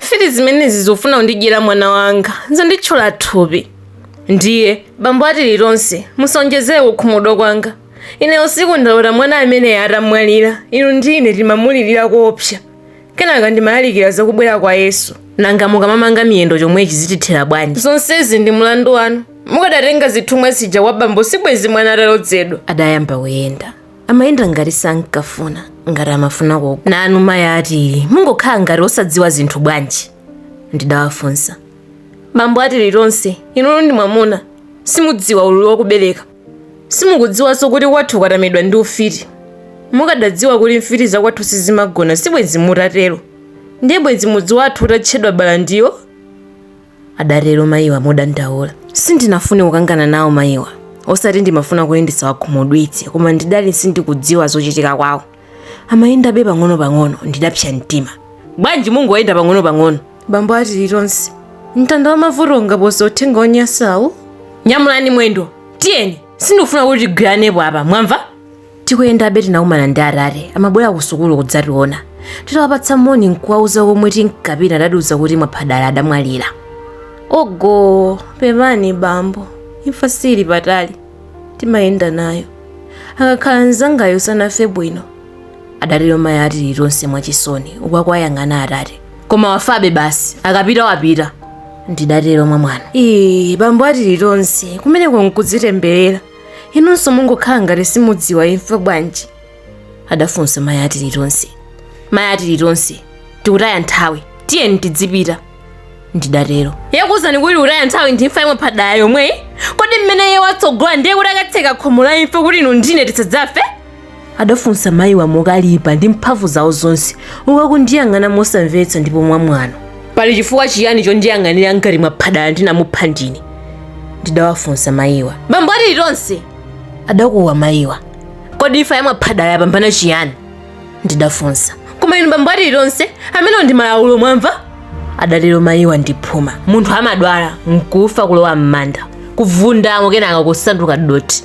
mfiti zimenezi zikufuna kundidyera mwana wanga zanditchola thupi ndiye bambo a tilitonse musaonjezere kukhumudwa kwanga ine usiku ndalota mwana ameneyu atamwalira inu ndi ine timamulirira koopsa kenaka ndimalalikira zakubwera kwa yesu nanga mukamamanga miyendo chomwechi zitithera bwanji zonsezi ndi mlandu wanu mukadatenga zithumwa zija kwa bambo sibwezi mwana atalodzedwa adayamba kuyenda amayenda ngati sankafuna ngati amafuna koko nanu mayi ati mungokhala ngati osadziwa zinthu bwanji ndidawafunsa bambo a tilitonse inuyo ndi mwamuna simudziwa ululu wakubereka simukudziwanso kuti kwathu kwatamidwa ndi ufiti mukadadziwa kuti mfiti zakwathu sizimagona sibwenzi mutatero ndiye bwenzi mudzi wathu utatchedwa balandiyo adatero mayiwa modandaula. Sindinafune kukangana nawo mayiwa, osati ndimafuna kuti ndisawakhumudwitse, koma ndidali sindikudziwa zochitika kwawo. Amayendabe pang'onopang'ono, ndidapsa mtima. Bwanji mungoyenda pang'onopang'ono? Bambo a Tilitonse, mtanda wa mavuto ungapose uthenga wonyansawu? Nyamulani mwendo, tiyeni! Sindikufuna kuti tigwiranepo apa, mwamva? Tikuyendabe tinakumana ndi atate, amabwera kusukulu kudzationa. Titawapatsa moni n'kuwauza komwe tinkapita adatiuza kuti Mwaphadala adamwalira. Ogoo! Pepani bambo, imfa siili patali, timayenda nayo. Akakhala mnzangayu sanafe bwino, adatero mayi a Tilitonse mwachisoni, uku akuwayang'ana atate. Koma wafabe basi, akapita wapita, ndidatero mwamwano. Iii, bambo a Tilitonse, kumeneko n'kudzitemberera. inunso mungokhala ngati simudziwa imfa bwanji adafunsa mayi a tilitonse mayi a tilitonse tikutaya nthawi tiyeni tidzipita ndidatero yakuuzani kuti tikutaya nthawi ndi imfa ya mwaphadala yomweyi kodi mmene iye watsogola ndiye kuti akatseka khomo la imfa kuti inu ndi ine tisadzafe adafunsa mayiwa mokalipa ndi mphamvu zawo zonse uku akundiyang'ana mosamvetsa ndipo mwamwano pali chifukwa chiyani chondiyang'anira ngati mwaphadala ndinamupha ndine ndidawafunsa mayiwa bambo a tilitonse adakuwa mayiwa kodi imfa ya mwaphadala yapambana chiyani ndidafunsa koma inu bambo a tilitonse amenewo ndi malaulo mwamva adatero mayiwa ndi phuma munthu amadwala nkufa kulowa m'manda kuvundamo kenaka kusanduka dothi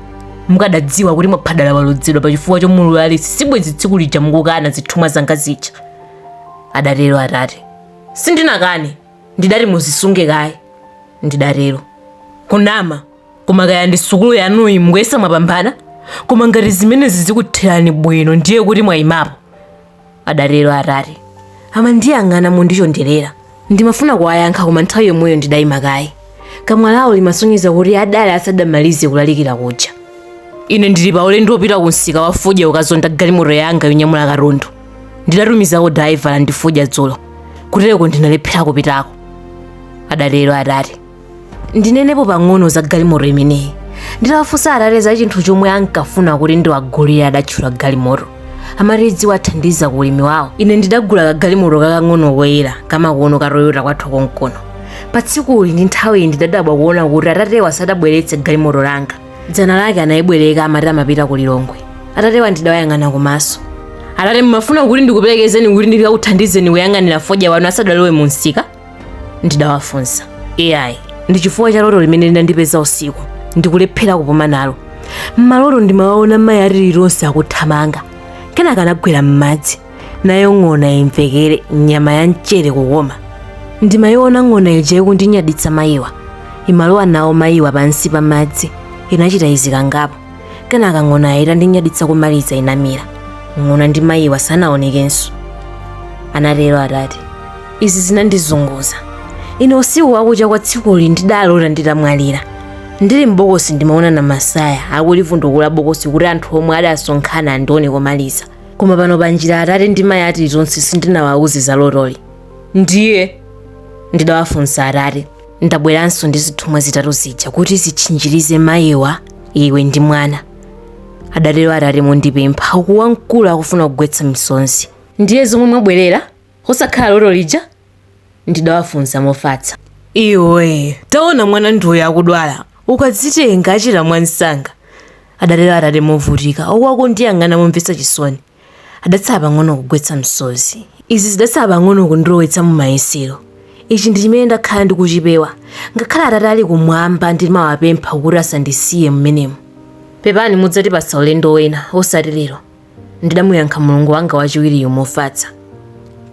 mukadadziwa kuti mwaphadala walodzedwa pa chifukwa chomululuza alesi sibwenzi tsiku lija mukukana zithumwa zanga zija adatero atate sindinakane ndidati muzisunge kaye ndidatero kunama koma kaya ndi sukulu yanuyi mukuyesa mwapambana koma ngati zimenezi zikutherani bwino ndiye kuti mwayimapo adatero atate amandiyang'ana mondichonderera ndimafuna kuwayankha koma nthawi yomweyo ndidayima kaye kamwa lawo limasonyeza kuti adali asadamalize kulalikira kuja ine ndili pa ulendo wopita ku msika wa fodya kukazonda galimoto yanga yonyamula katundu ndidatumizako dalaivala ndi fodya dzulo kutereko ndinalephera kupitako adatero atate ndinenepo pang'ono za galimoto imeneyi nditawafunsa atate za chinthu chomwe ankafuna kuti ndiwagulire adatchula galimoto amati idziwathandiza ku ulimi wawo ine ndidagula kagalimoto kakang'ono koyera kamakono ka toyota kwathu konkono pa tsikuli ndi nthawiyi ndidadabwa kuona kuti atatewa sadabweretse galimoto langa dzana lake anayibwereka amati amapita ku lilongwe atatewa ndidawayang'ana kumaso atate mumafuna kuti ndikuperekezeni kuti ndikakuthandizeni kuyang'anira fodya wanu asadalowe mu msika ndidawafunsa ayi ndi chifukwa cha loto limene linandipeza usiku ndikulephera kupuma nalo mmaloto ndimawaona mayi atililonse akuthamanga kenaka anagwera m'madzi nayo ng'ona imvekere nyama ya mchere kukoma ndimayiona ng'ona ija ikundinyaditsa mayiwa imalowa nawo mayiwa pansi pa madzi inachita izi kangapo kenaka ng'onayo itandinyaditsa kumaliza inamira ng'ona ndi mayiwa sanaonekenso anatero atate izi zinandizunguza ine usiku wakucha kwa tsikuli ndidalota nditamwalira ndili m'bokosi ndimaona namasaya akulivundukula bokosi kuti anthu omwe adasonkhana andione komaliza koma pano pa njira atate ndi mayi atililonse sindinawauze za lotoli ndiye ndidawafunsa atate ndabweranso ndi zithumwa zitatu zija kuti zitchinjirize mayiwa iwe ndi mwana adatero atate mondipempha uku wamkulu akufuna kugwetsa misonzi ndiye zomwe mwabwerera osakhala loto lija? Ndidawafunsa mofatsa. Iwe, taona mwana ndi uyo akudwala. Ukadzitenga achira mwamsanga, adatero atate movutika, uku akundiyang'ana momvetsa chisoni. Adatsala pang'ono kugwetsa msozi. Izi zidatsala pang'ono kundilowetsa mumayesero. Ichi ndi chimene ndakhala ndikuchipewa. Ngakhale Atate ali kumwamba ndimawapempha kuti asandisiye m'menemu. Pepani mudzatipatsa ulendo wina, osati lero. ndidamuyankha mulungu wanga wachiwiriyo mofatsa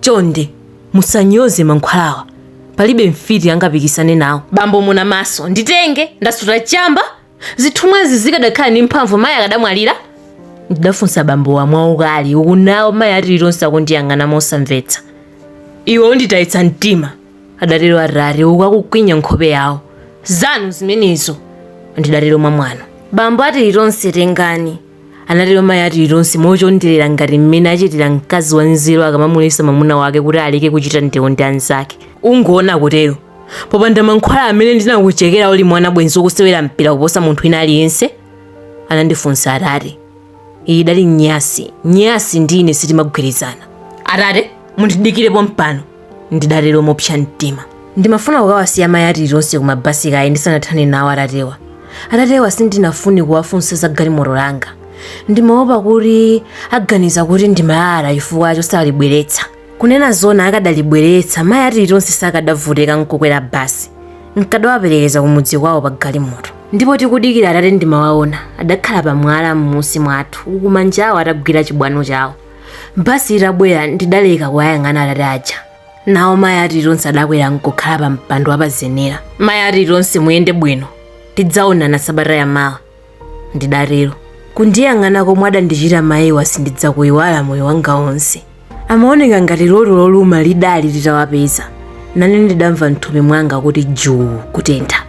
chonde musanyoze mankhwalawa palibe mfiti angapikisane nawo bambo muna maso nditenge ndasuta chamba zithumwazi zikadakhala ndi mphamvu mayi akadamwalira ndidafunsa bambowa mwaukali uku nawo mayi atililonse akundiyang'ana mosamvetsa iwe unditayitsa mtima adatero atate uku akukwinya nkhope yawo zanu zimenezo ndidatero mwa mwano bambo atililonse tengani anatero mayi a tilitonse mochonderera ngati mmene achitira mkazi wanzeru akamamuletsa mwamuna wake kuti aleke kuchita ndewu ndi anzake ungoona kutero popanda mankhwala amene ndinakuchekera uli mwana bwenzi ukusewera mpira kuposa munthu wina aliyense anandifunsa atate iyi idali nyasi nyasi ndi ine sitimagwirizana atate mundidikire pompano ndidatero mopsa mtima ndimafuna kukawasiya mayi a tilitonse ku mabasi kaye ndisanathane nawo atatewa atatewa sindinafune kuwafunsa za galimoto langa ndimaopa kuti aganiza kuti ndimalalata chifukwa chosalibweretsa kunena zona akadalibweretsa mayi a tilitonse sakadavutika nkukwera basi nkadawaperekeza kumudzi kwawo pa galimoto ndipo tikudikira atate ndimawaona adakhala pamwala m'munsi mwathu uku manjawo atagwira chibwano chawo basi itabwera ndidaleka kuwayang'ana atate aja nawo mayi a tilitonse adakwera nkukhala pa mpando wapazenera mayi a tilitonse muyende bwino tidzaonana sabata ya mawa ndidatero kundiyang'ana komwe adandichita mayiwa sindidzakuyiwala moyo wanga wonse amaoneka ngati loto loluma lidali litawapeza nane ndidamva mthupi mwanga kuti juu kutentha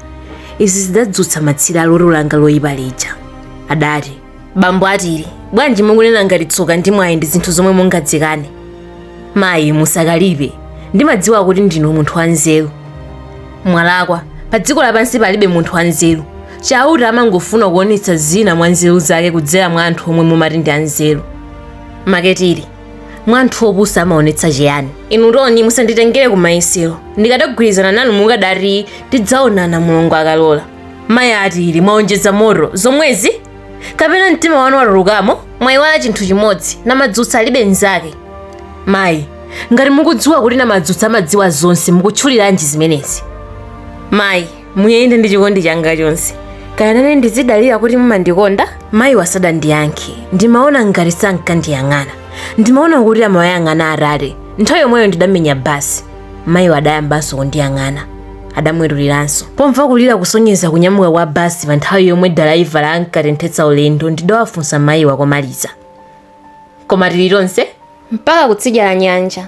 izi zidadzutsa matsire a loto langa loyipa lija adati bambo a tili bwanji mukunena ngati tsoka ndi mwayi ndi zinthu zomwe mungadzikane mayi musakalipe ndimadziwa kuti ndinu munthu wanzeru mwalakwa pa dziko lapansi palibe munthu wanzeru chauta amangofuna kuonetsa zina mwa nzeru zake kudzera mwa anthu omwe mumati ndi anzeru make tili mwa anthu opusa amaonetsa chiyani inu toni musanditengere kumayesero ndikadagwirizana nanu mukadati tidzaonana mulungu akalola mayi a tili mwaonjeza moto zomwezi kapena mtima wanu watulukamo mwayiwala chinthu chimodzi namadzutsa alibe mnzake mayi ngati mukudziwa kuti namadzutsa amadziwa zonse mukutchuliranji zimenezi mayi muyende ndi chikondi changa chonse kaya nane ndizidalira kuti mumandikonda mayiwa sadandiyankhe ndimaona ngati sankandiyang'ana ndimaona kuti amawayang'ana atate nthawi yomweyo ndidamenya basi mayiwa adayambanso kundiyang'ana adamwetuliranso pomva kulira kusonyeza kunyamuka kwa basi pa nthawi yomwe dalaivala ankatenthetsa ulendo ndidawafunsa mayiwa komaliza koma tili tonse mpaka kutsidya la nyanja